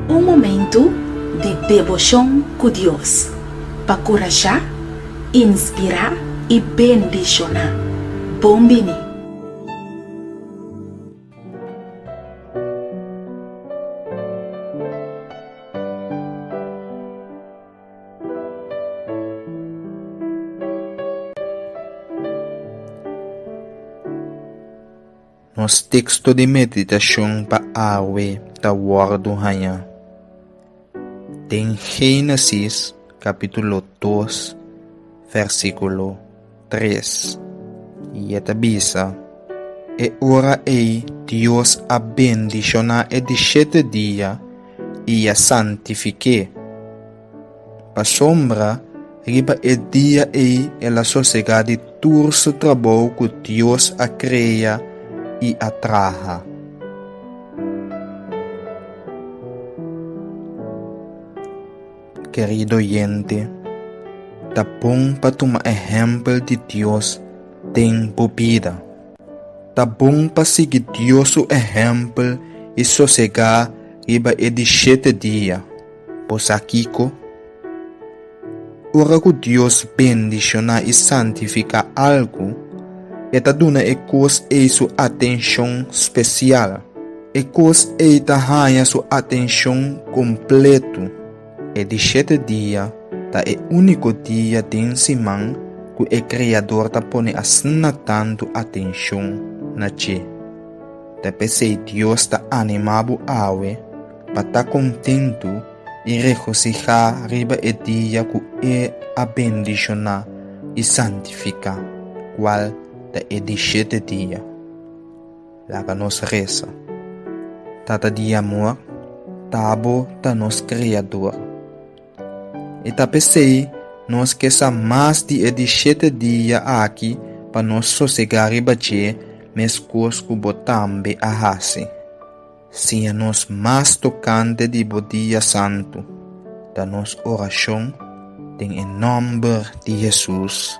Un momentu di deboshon ku Dios pa kurashá, inspirá i bendishoná. Bon bini! Nos teksto di meditashon pa awe ta wòrdu hañá den Génesis kapítulo dos, vèrsikulo. tres, i e ta bisa, E ora ei Dios a bendishoná e di shete dia i a santifik'é, pasobra riba e dia ei el a sosegá di tur su trabou ku Dios a krea i a traha. Kerido oyente, ta bon pa tuma ehèmpel di Dios den bo bida. Ta bon pa sigui Dios su ehèmpel i sosegá riba e di shete dia. Bo sa kiko? Ora ku Dios bendishoná i santifiká algu, e ta duna e kos ei su atenshon spesial. E kos ei ta haña su atenshon kompletu. E di shete dia ta e úniko dia den siman ku e Kreador ta pone asina tantu atenshon na dje. Ta p'esei Dios ta animá bo awe pa ta kontentu i regosihá riba e dia ku e a bendishoná i santifiká, kual ta e di shete dia. Laga nos resa. Tata di amor, Tabo ta nos Kreador. I ta pesei nos ke sa mas di e di shete dia aki pa nos sosegá riba dje, meskos ku bo tambe a hasi. Siña nos mas tokante di bo dia santu, ta nos orashon den e nòmber di Hesus.